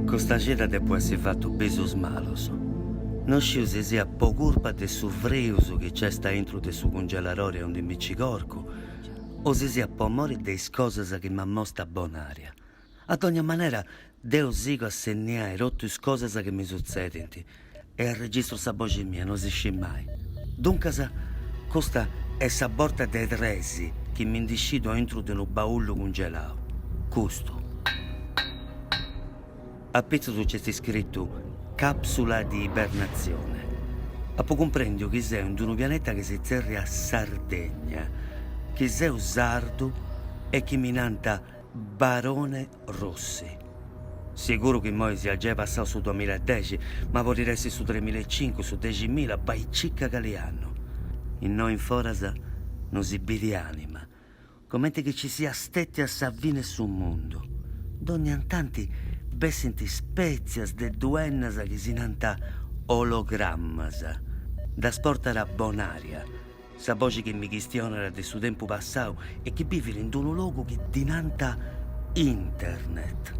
Custa cida depu essi fatu bisus malus. No sciu si siat po curpa de su frius chi c'est aintru de su cungelarori aundi mi ci corcu o si siat po mori de is cosas chi m'amostat Bonaria. A dogna manera, deu sigo a segnai totu is cosas chi mi sutzedint e arregistru sa boxi mia, no si scit mai. Duncas, custa est sa borta de tres chi mi ndi scidu aintru de unu baullu cungelau. Custu. A pitzus nc'est iscritu Capsula di ibernazione. Apu cumprendiu chi seu in d'unu pianeta chi si tzerriat Sardegna, chi seu sardu e chi mi nant Barone Rossi, Siguru chi imoi siat giai passau su duamilla e dexi, ma podit essi su tremilla e cincu, su deximilla, bai cicca cali annu. Innoi in foras no si bidi anima, comente chi ci siat stetia sa fini 'e su mundu. Dònnia tanti bessint spètzias de duennas chi si nant ologrammas. Ddas portat Bonaria. Sa boxi chi mi chistionat de su tempu passau e chi bivit in d'unu logu chi ddi nant Internet.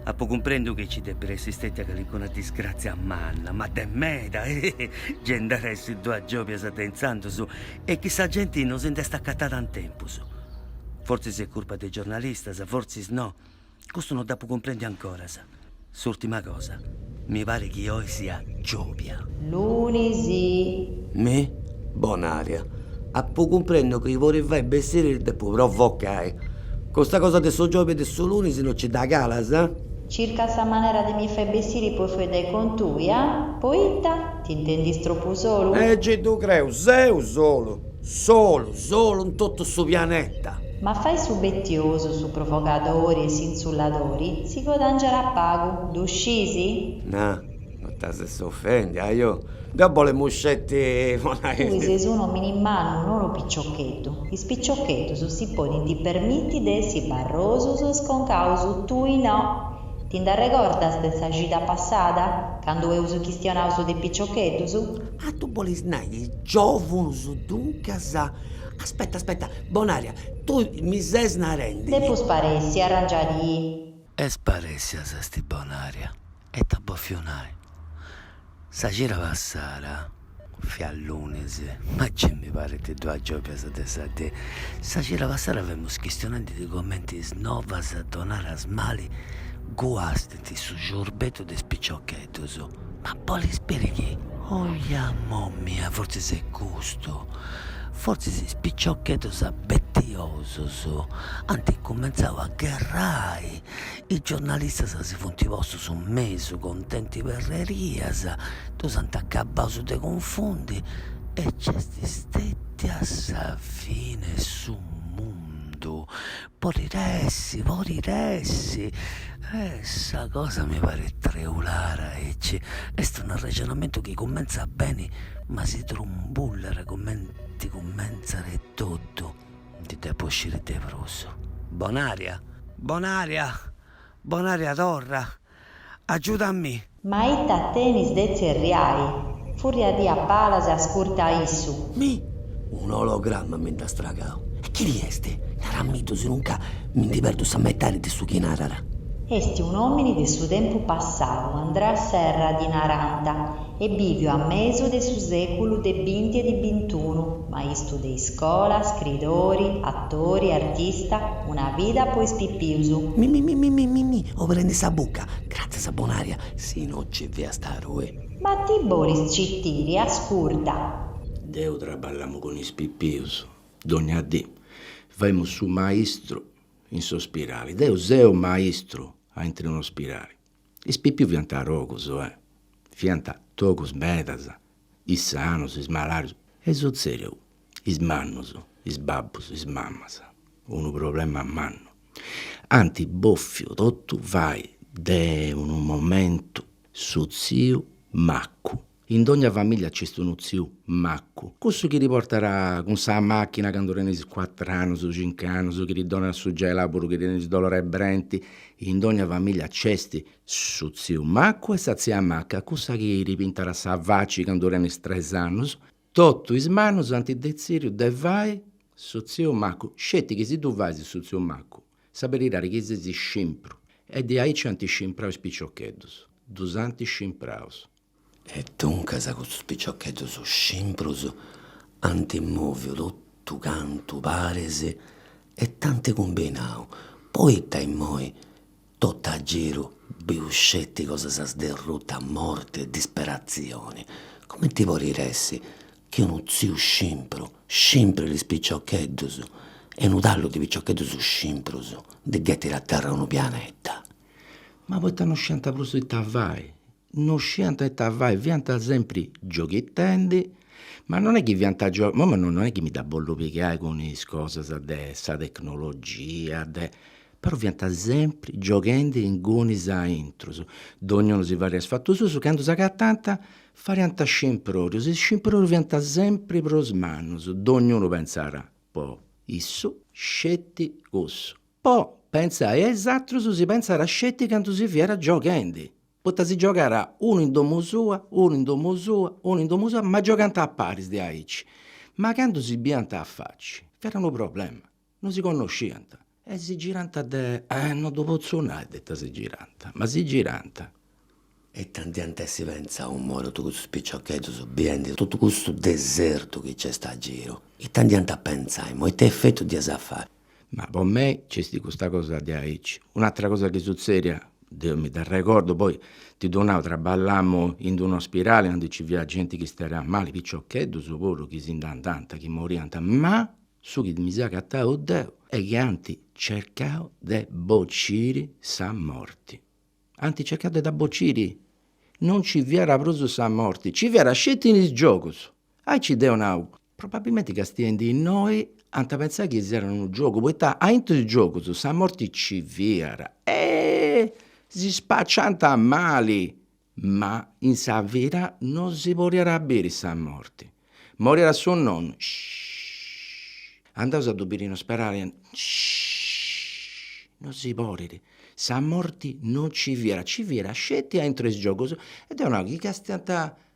Apu cumprendiu chi ci depit essi stetia calincuna disgrazia manna, ma de meda, eh! gei nd'at essi duas giobias de intzandus e chi sa genti no si nd'est acatada in tempus. Fortzis est curpa de is giornalistas, fortzis no. Custu no dd'apu cumprendiu ancoras. S'ùrtima cosa, mi parit chi oi sia giòbia. Lunis. Mi? Bonaria. Apu cumprendiu chi po ti fai bessiri ti depu provocai. Custa cosa de su giòbia e de su lunis no nci dda calas? Circas sa manera de mi fai bessiri po fueddai cun tui, ah? Poita? T'intendis tropu solu? Gei ddu creu, seu solu. Solu, solu in totu su pianeta. Ma fai su betiosu, su provogadori e s'insulladori si godàngiat pagu, ddu scis? Na, no t'as a essi ofèndia, ajo, deu bolemu sceti po nai. Tui ses unu omini mannu, no unu piciocheddu. Is piciocheddus si podint permiti de essi barrosus e sconcaus, tui no. Ti nd'arregordas de sa cida passada, candu eus chistionau su de piciocheddus? Ah tui bolis nai is giovunus duncas, aspetta aspetta, Bonaria, tui mi ses narendi. Depu sparessi, arràngia-ti. E sparèssia s'est Bonaria, e ita at bofiu nai, sa cida passada, fiat lunis, ma gei mi parint duas giòbias de sa dì, sa cida passada femus chistionendi de comenti is novas donadas mali guasti, Est su ciorbeddu de is piciocheddus. Ma bolis biri chi? Oja momia, fortzis est custu. Fortzis is piciocheddus abetiosus ant cumentzau a gherrai, is giornalistas si funt postus in mesu contendi perrerias, ddus ant acabaus de cunfundi e nc'est stètia sa fine 'e su mundu. Podit essi, podit essi, eh, sa cosa mi parit treulada aici, est unu arrexonamentu chi cumentzat beni ma si trumbullat cumenti cumentzat etotu, ndi depu sciri de prus. Bonaria? Bonaria? Bonaria, torra, agiudamì. Ma ita tenis de tzerriai? Furriadì a palas e ascurta a issu. Mi? Un ologramma mi nd'at stragau. E chini est? Naramiddu sinunca mi ndi perdu sa metadi de su chi narat. Est un'òmini de su tempus passau, Andrea Serra ddi narant, est bìviu a mesu de su sèculu de binti e de bintunu, maistru de iscola, scridori, atori, artista, una vida po is pipius. Mimimimimimimimi oberendi sa bucca, gratzias Bonaria, si no nci fiast tui. Ma ti bolis citiri, ascurta. Deu traballamu cun is pipius, dogna dì, faemu su maistru in s'ospirali, deu seu maistru aintru in un'ospirali. Is pipius fiant togus, fiant togus medas, is sanus, is malarius, est sutzèdiu, is mannus, is babbus, is mamas, unu problema mannu, ant bòfiu totu fai de unu momentu su tziu maccu. In dogna famiglia nc'est unu tziu maccu, cussu chi ti portat cun sa machina candu tenis cuatru annus, cincu annus, chi ti donat su gelau puru chi tenis dolor'e brenti, in dogna famiglia nc'est su tziu maccu e sa tzia macca, cussa chi ti pintat sa faci candu tenis tres annus, totu is mannus ant detziriu de fai su tziu maccu, sceti chi si tui fais su tziu maccu sa beridadi chi ses scimpru e diaici ant scimprau is piciocheddus, ddus ant scimpraus E duncas custus piciocheddus scimprus ant mòviu totu cantu paris e it'ant cumbinau, poita immoi totu a giru bius sceti cosas sderrutas, morti e disperatzioni, cumenti podit essi chi unu tziu scimpru scimprit is piciocheddus e unu tallu de piciocheddus scimprus ndi ghetit a terra unu pianeta? Ma poita non sciant prus ita fai no sciant ita fai, fiant sempri gioghetendi, ma non est chi fiant imoi non est chi mi dda bollu pigai cun is cosas de sa tecnologia de, però fiant sempri gioghendi ingunis a intrus, donniunu si fadiat is fatus suus, candu s'agatant fadiant scimprorus, is scimprorus fiant sempri prus mannus, donniunu pentzat po issu sceti cussu, po pentzai a is atrus si pentzat sceti candu si fiat gioghendi Poita si giogant unu in domu sua, unu in domu sua, unu in domu sua, ma giogant a paris diaici. Ma candu si biiant a faci, fiat unu problema, non si connosciant. E si girant de, eh, non ddu potzu nai de ita si girant, ma si girant. E ita nd'hiant a essi pentzau imoi totu custus piciocheddus biendi totu custu desertu chi nc'est a giru? Ita nd'hiant a pentzai imoi, ita effettu dd'iat a fai? Ma po mei nc'est custa cosa diaici. Un'atra cosa chi sutzediat, deo mi dd'arregordu, poi ti ddu nau, traballamu in d'unu ospidali candu nci fiat genti chi istadiat mali, piciocheddus puru chi si nd'andànt, chi moriant, ma su chi mi seu agatau deu est chi ant cercau de bociri sa morti, ant cercau de dda bociri, non nci fiat prus sa morti, nci fiat sceti in is giogus, aici deu nau, Probabilmente castiendi innoi ant pentzau chi fiat unu giogu poita aintru 'e is giogus sa morti nci fiat e si spassiant a mali, ma in sa vida non si podiat a biri sa morti, moriat su nonnu andaus a ddu biri in ospedali non si podit, sa morti non nci fiat, nci fiat sceti aintru 'e is giogus e deu nau chi castiant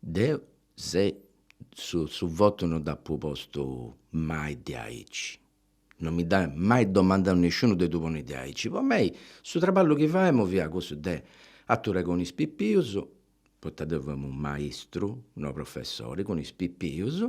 Deu se su su votu no dd'apu postu mai diaici, no mi dd'at mai domandau nisciunu de ddu ponni diaici, po mei su traballu chi faemu fiat cussu de aturrai cun is pipius, poita deu faemu unu maistru, no professori, cun is pipius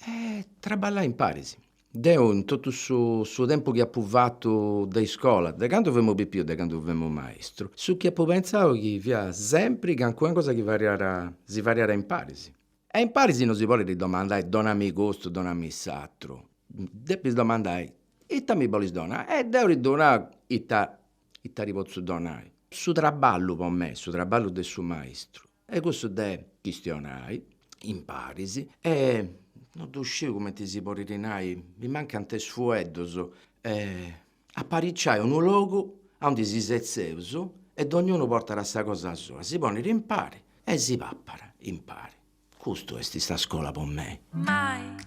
e traballai imparis Deu in totu su su tempus chi apu fatu de iscola, de candu femu pipiu, de candu femu maistru, su chi apu pentzau chi fiat sempri calincuna cosa chi fadiat, si fadiat imparis. E imparis non si podit domandai, donami custu, donami s'aturu, depis domandai, ita mi bolis donai e deu ti ddu nau ita ita ti potzu donai. Su traballu po mei, su traballu de su maistu Est cussu de chistionai imparis e non ddu sciu cumenti si podit nai, mi mancant is fueddus, apariciai unu logu aundi si setzeus e dognunu portat sa cosa sua, si ponit impari e si papat impari. Custu est sa scola po mei.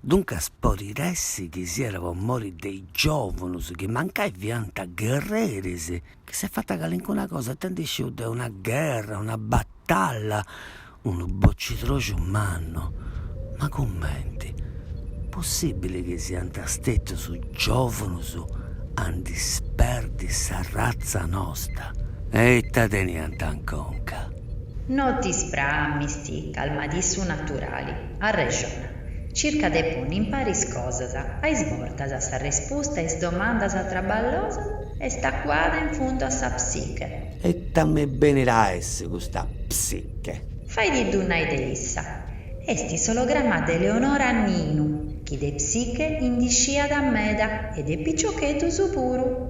Duncas podit essi chi siat po mori de is giovunus chi mancai fiant gherreris, chi s'est fatta calincuna cosa, tanti sciu de una gherra, una battalla, unu bocidroxu mannu. Ma cumenti, possibili chi siant stetus giovunus a ndi sperdi s'arratza nosta? E ita teniant in conca? No ti spramis ti, calma-tì su naturali, arrexona. Circa de ponni in paris cosas, a is bortas s'arrespusta a is domandas traballosas est acuada in fundu a sa psiche. E ita mi benit a essi custa psiche? Fai-tì-ddu nai de issa. Est s'olograma de Eleonora Ninu, chi de psiche ndi sciat meda e de piciocheddus puru.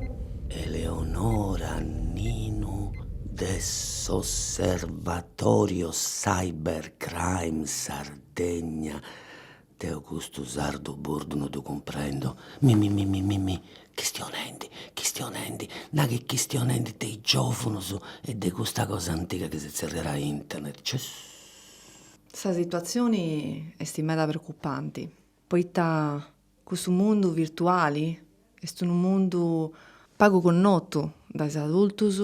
Eleonora Ninu de s'Osservatorio Cybercrime Sardegna. Tegna, deu custu sardu burdu no ddu cumprendo, mi mi mi mi mi mi, chistionendi, chistionendi, na chi est chistionendi de is giòvunus e de custa cosa antiga chi si tzerriat internet, cissss. Sa situatzioni est meda preocupanti, poita cussu mundu virtuali est unu mundu pagu connotu dae is adultus,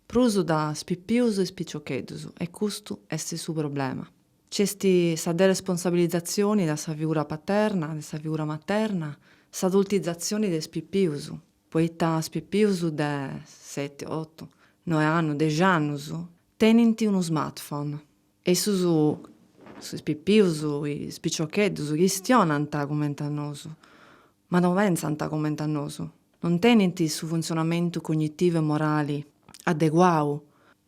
prus dae is pipius e is piciocheddus e custu est su problema. Nc'est sa deresponsabilizatzioni de sa figura paterna, de sa figura materna, s'adultizatzioni de is pipius, poita is pipius de seti, otu, noe annus, dexi annus, tenint unu smartphone. E issus, is pipius, is piciocheddus, chistionant cumenti a nosu, ma no pentzant cumenti a nosu, non tenint su funtzionamentu cognitivu e morali adeguau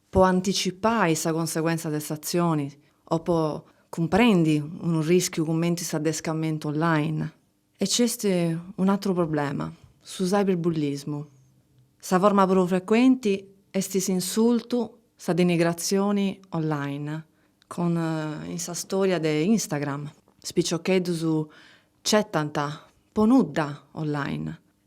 po anticipai sa conseguentza de s'atzioni o po cumprendi unu rischiu cumenti s'adescamentu online. E nc'est un'atru problema, su cyberbullismu. Sa forma prus frecuenti est s'insultu, sa denigratzioni online, con in sa storia de Instagram is piciocheddus ci etant po nudda online.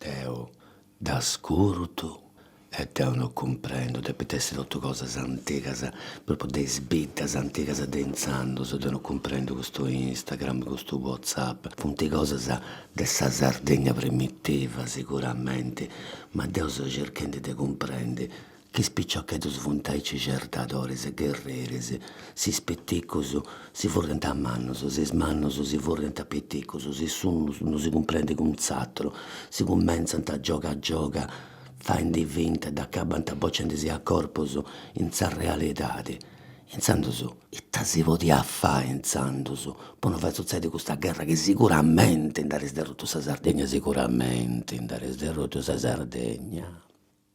Deu dd'ascurtu e deu no cumprendu, depint essi totu cosas antigas, propriu de is biddas antigas de intzandus, deu no cumprendu custu Instagram, custu WhatsApp, funt cosas de sa Sardegna primitiva siguramenti, ma deu seu circhendi de cumprendi Chi is piciocheddus funt aici certadoris e gherreris, s'is piticus si furrint a mannus, s'is mannus si furrint a piticus, si s'unu non si cumprendit cun s'atru, si cumentzant a gioga a gioga faindi finta, dd'acabant bocendisi a corpus in sa realidadi. Intzandus, ita si podiat fai intzandus po no fai sutzedi custa gherra chi siguramenti nd'at essi sderrutu sa Sardegna, siguramenti nd'at essi sderrutu sa Sardegna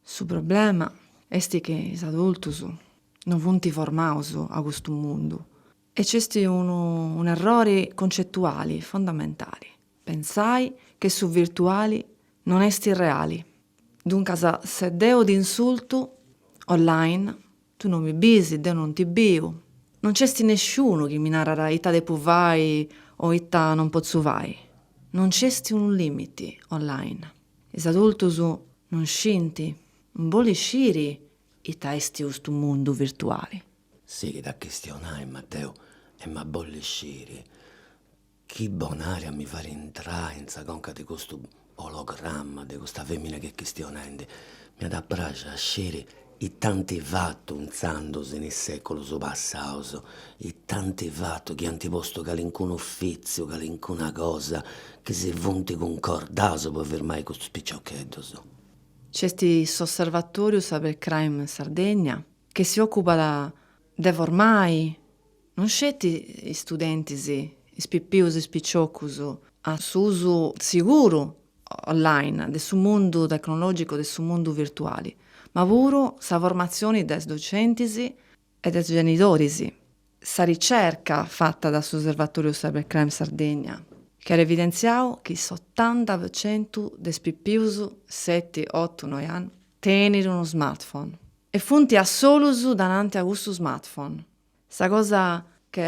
Su problema est chi is adultus no funt formaus a custu mundu e nc'est unu un'errori concetuali fondamentali, pensai chi su virtuali non est reali. Duncas se deu t'insultu online, tu no mi bisi, deu non ti biu, non nc'est nesciunu chi mi narat ita depu fai o ita non potzu fai, non nc'est unu limiti online. Is adultus non scint, non bolint sciri ita est custu mundu virtuali. Sighit a chistionai Mateu. Emu a bolli sciri chi bonaria mi fait intrai in sa conca de custu ologramma de custa femina chi est chistionendi. M'iat a praxi a sciri It'ant fatu intzandus in is sèculus passaus? It'ant fatu chi ant postu calincunu ufìtziu, calincuna cosa chi si funt cuncordaus po firmai custus piciocheddus? Nc'est s'Osservatòriu Cybercrime Sardegna, chi si òcupat de formai Non sceti is studentis, is pipius is piciocus, a s'usu siguru, online, de su mundu tecnològicu, de su mundu virtuali, ma puru sa formatzioni de is docentis e de is genidoris. Sa ricerca fata da s'Osservatòriu Cybercrime Sardegna chi at evidentziau chi s'otanta pro centu de is pipius seti, otu, noi annus tenit unu smartphone e funt a solus dananti a cussu smartphone Sa cosa chi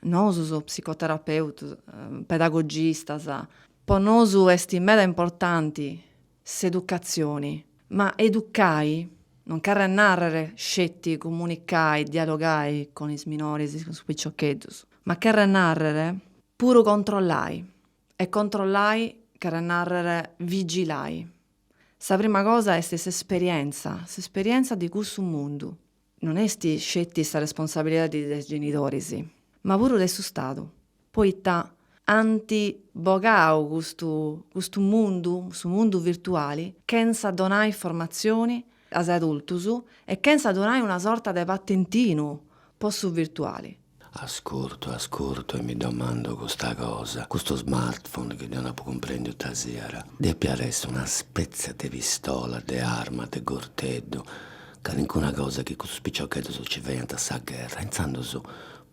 nosus psicoterapeutus, pedagogistas, po nosu est meda importanti s'educatzioni, ma educai non cherret nàrrere sceti comunicai, dialogai cun is minoris, cun is piciocheddus, ma cherret nàrrere puru controllai e controllai cherret nàrrere vigilai. Sa prima cosa est s'esperienza, s'esperienza de cussu mundu non est sceti sa responsabilidadi de is genidoris, ma puru de su Stadu, poita ant bogau custu custu mundu, su mundu virtuali, chentza donai formatzioni a is adultus e chentza donai una sorta de patentinu po su virtuali. Ascurtu, ascurtu e mi domando custa cosa, custu smartphone chi deu apu cumprendiu ita siat, depiat essi una spetzia de pistola, de arma, de gurteddu, calincuna cosa chi custus piciocheddus nci faiant a sa gherra, intzandus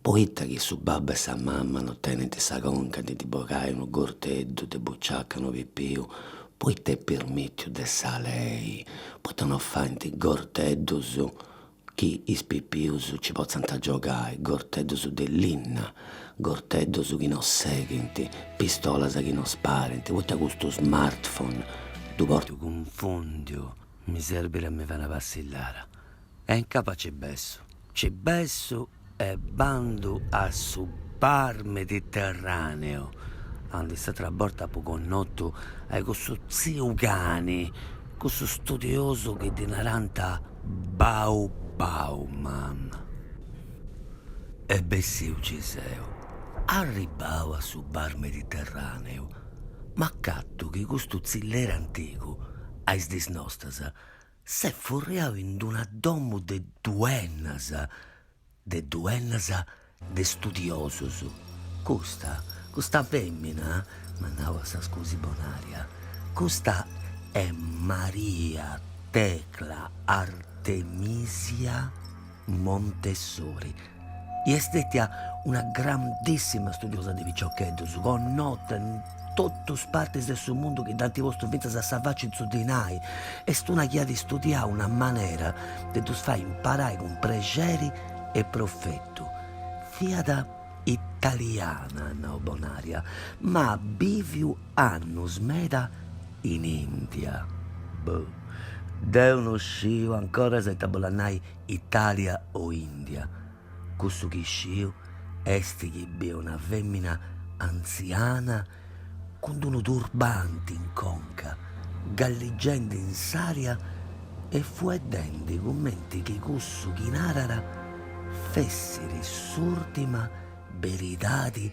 poita chi su babbu e sa mama non tenint sa conca de ddi bogai unu gurteddu de buciaca a unu pipiu, poita est pirmìtiu de sa lei, poita non faint gurteddus chi is pipius ci potzant giogai, gorteddus de linna, gorteddus chi no seghint, pistolas chi no sparint, poita custu smartphone ddu portu cunfundiu, mi serbit a mi fai una passillara e incapaci bessu, ci bessu. E bandu a su bar mediterraneo aundi s'atra borta apu connotu a cussu tziu cani, cussu studiosu chi ddi narant Bau Bauman. E bessiu, nci seu arribbau a su bar mediterraneu, m'acattu chi custu tzilleri antigu a is dis nostras S'est furriadu in d'una domu de duennas, de duennas de studiosos. Custa, custa fèmina, m'at nau a sa scusi Bonaria, custa est Maria Tecla Artemisia Montessori. Est stètia una grandissima studiosa de piciocheddus, connota in totus partis de su mundu chi dd'ant postu fintzas a sa faci in su dinai. Est una chi at istudiau una manera de ddus fai imparai cun prexeri e profetu. Fiat italiana, at nau Bonaria, ma at bìviu annus meda in Ìndia. Boh. Deu no sciu, ancoras ita bolat nai. Italia o India, cussu chi isciu est chi biu una fèmina antziana cun d'unu turbanti in conca, galligendi in s'ària e fueddendi cumenti chi cussu chi narara fessiri s'ùrtima beridadi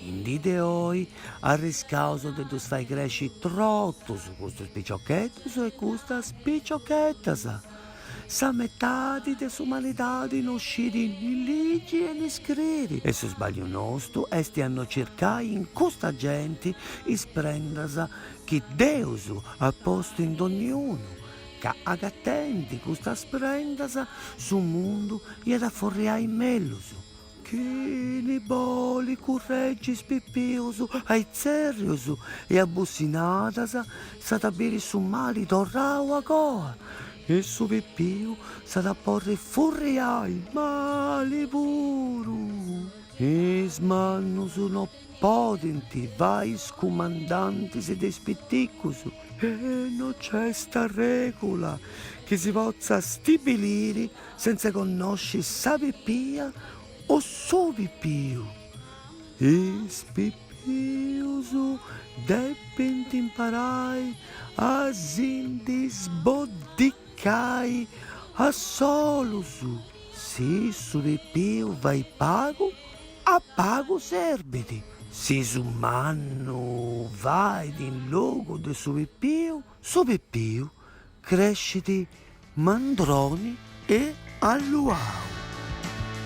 In dì de oi arriscaus de ddus fai cresci trotus custus piciocheddus e custas piciocheddas. Sa metadi de s'umanidadi no scidi ni ligi e ni scriri e su sbagliu nostu esti a no circai in custa genti is prendas chi Deus at postu in donniunu, ca agatendi custas prendas su mundu iat a furriai mellus. Chini boli curregis pipius a itzèrrius e abussinadas s'at a biri su mali torrau a coa e su pipiu s'at a porri furriai mali puru. Is mannus no Podint fai is cumandantis de is piticus e no nc'est arregula chi si potzat stibiliri sentza connosci sa pipia o su pipiu. Is pipius depint imparai a si ndi sboddicai a solus, si su pipiu fait pagu A pagu serbit si su mannu fait in logu de su pipiu, su pipiu crescit mandroni e alluau.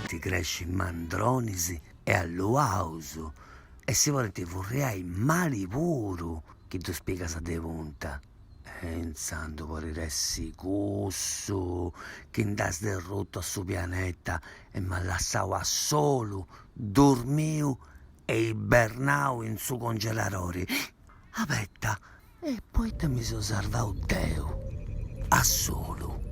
Ti crescint mandronis e alluaus e si podint furriai mali puru chi ddus pigas de punta, e intzandus podit essi su chi nd'at derrutu a su pianeta e m'at lassau a solu, durmiu e ibernau in su congeladori. Abetta, e poita mi so sarvau deu, a solu?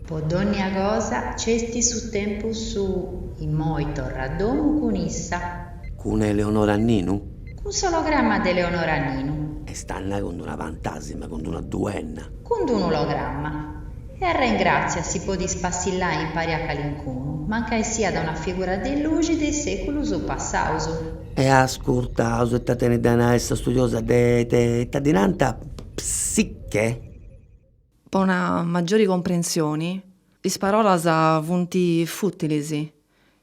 Po dònnia cosa nc'est su tempus suu, immoi torra a domu cun issa. Cun Eleonora Ninu? Cun s'ologramma de Eleonora Ninu. Est a nai cun d'una fantasima, cun d'una duenna. Cun d'un'ologramma. E arrengràtzia si podis spassillai impari a calincunu, mancai siat una figura de luxi de is sèculus passaus. E ascurtaus ita tenit de a nai sa studiosa de de ita ddi nant psiche. Po una maggiori comprensioni, is parolas funt fùtilis,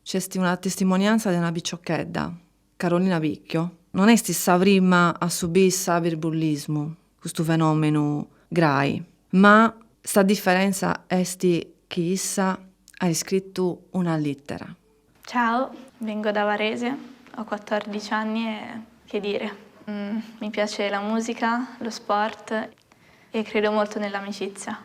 nc'est una testimonianza de una piciochedda. Carolina Picchio non est sa prima a subiri ciberbullismu, custu fenòmenu grai, ma sa diferentza est chi issa at iscritu una lìtera. Ciao, vengo da Varese, ho quattordici anni e che dire, mi piace la musica, lo sport e credo molto nell'amicizia.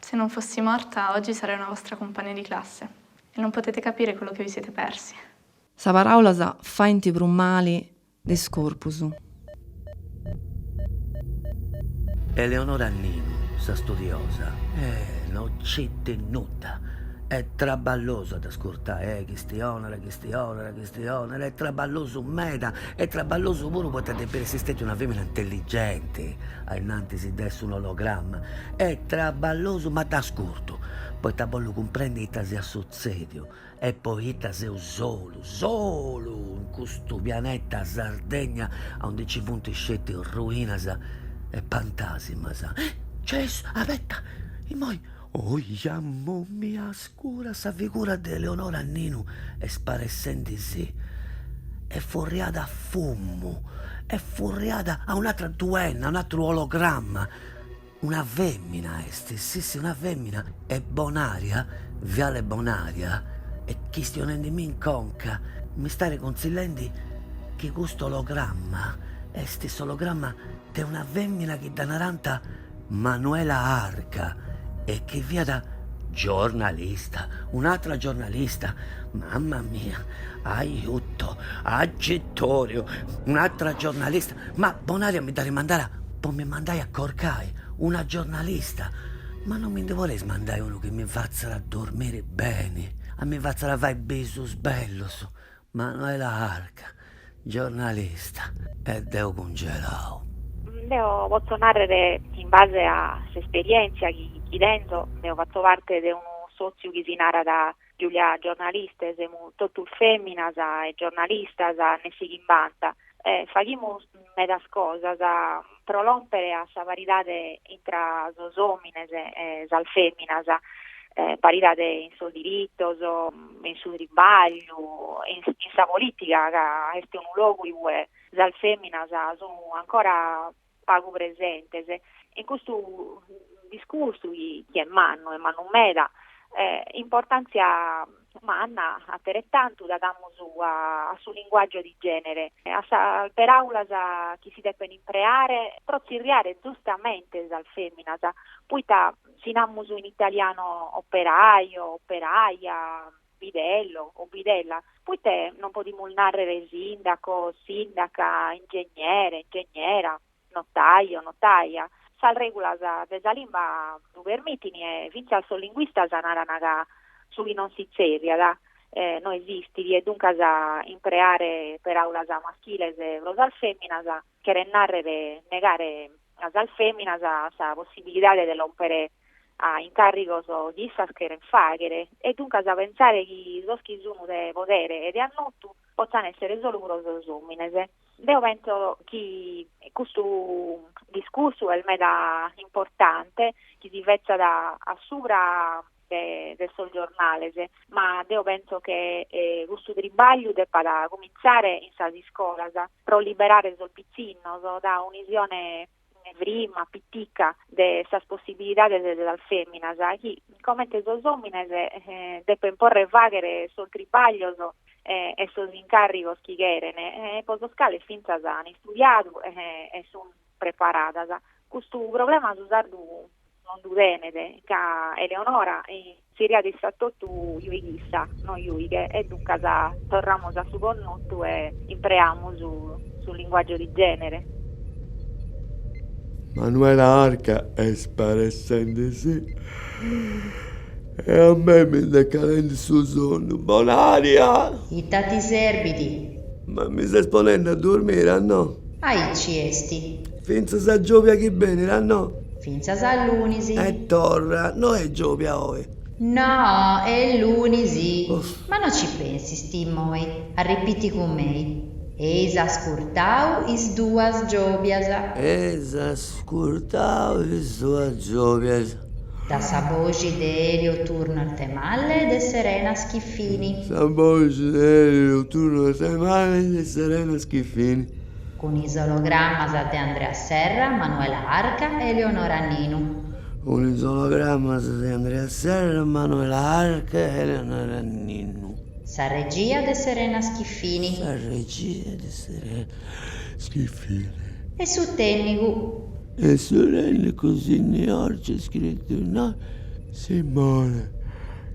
Se non fossi morta, oggi sarei una vostra compagna di classe, e non potete capire quello che vi siete persi. Is paràulas faint prus mali de is corpus. Eleonora Ninu, sa studiosa, Eh, no nc'at de nudda! Est traballosu a dd'ascurtai, eh, chistionara, chistionara. Chistionera, est traballosu meda, est traballosu puru poita depp'essi stetia una femina intelligenti ainnantis de essi un'ologramma, est traballosu ma dd'ascurtu, poita bollu cumprendi ita siat sutzediu e poita seu solu, solu in custu pianeta Sardegna aundi ci funt sceti ruinas e pantasimas. Gesù, abetta, immoi, ohi ammommia. Scura sa figura de Eleonora Ninu est sparessendi si est furriada a fummu, est furriada a un'atra duenna, a un'atru ologramma, una femmina est, sì sì una femmina e Bonaria, Viale Bonaria est chistionendimi in conca m'istat cunzillendi chi custu ologramma est s'ologramma de una femmina chi dda naranta Manuela Arca e chi fiat giornalista, un'atra giornalista, mamma mia, aiuto, agitoriu, un'atra giornalista, ma Bonaria mi dd'at mandada po mi mandai a corcai una giornalista, ma non mi ndi boleis mandai unu chi mi fatzat a dormiri beni, a mi fatzat a fai bisus bellus, Manuela Arca, giornalista, E deu cungelau? Deo potzo nàrrere in base a s'esperièntzia chi chi tenzo, deo fatzo parte de unu sòtziu chi si narat Giulia Giornaliste, semus totus fèminas e giornalistas nessi chimbanta e faghimus medas cosas, pro lòmpere a sa paridade intra sos òmines e sas fèminas, paridade in sos diritos, in su tribagliu, in sa polìtica ca est unu logu in ue sas fèminas sun ancora pagu presentes. In custu discursu chi est mannu e mannu meda, importàntzia manna ateretantu dda damus a su linguàgiu de gènere, a sas peràulas chi si depent impreare pro tzirriare zustamente sas fèminas, poita si namus in italianu operaio, operaia, bidello o bidella, poita non podimus nàrrere sindaco, sindaca, ingegnere, ingegnera? Notaio, notaia, sas règulas de sa limba ddu permitint e fintzas sos linguistas narant ca su chi non si tzerriat no esistit e duncas impreare peràulas maschiles pro sas fèminas cheret nàrrere negare a sas fèminas sa possibilidade de lòmpere a incàrrigos chi issas cheren fàghere e duncas pentzare chi sos chi sunt de podere e de annotu potzan èssere solu pro sos òmines. Deo penso chi custu discursu est meda importante, chi si fetzat a subra de sos giornales, ma deo penso che custu tribagliu depat cumintzare in sas iscolas, pro liberare sos pitzinnos da un'isione ne prima, pitica, de sas possibilidades de sas feminas, chi comente sos omines depen porre faghere sos tribaglios e sos incarrigos chi cheren e po sos cales finzas han istudiadu e sun preparadas. Custu problema su sardu non ddu tenet, ca Eleonora inseriat issa etotu juighissa, no juighe, e duncas torramus a su connotu e impreamus su linguàgiu de gènere. Manuela Arca est sparessende. Sì, e a mei mi nd'est calende su sonnu. Bonària! Ita ti serbit? Ma mi ses ponende a durmire a no? Aici est. Fintzas a giòbia chi benit a no. Fintzas a lunis. E torra. No est giòbia oi. No, est lunis. Ma no ci pensist immoi, arripiti cun mei. Eis ascurtau is duas giòbias. Eis ascurtau is duas giòbias. Da sa boxi de Elio Turno Arthemalle e de Serena Schiffini. Sa boxi de Elio Turno Arthemalle e de Serena Schiffini. cun is ologrammas de Andrea Serra, Manuela Arca e Eleonora Ninu. Cun is ologrammas de Andrea Serra, Manuela Arca e Eleonora Ninu. Sa regia de Serena Schiffini. Sa regia de Serena Schiffini. E su tènnicu. E su tènnicu sì, innoi c'est scritu, no, Simone.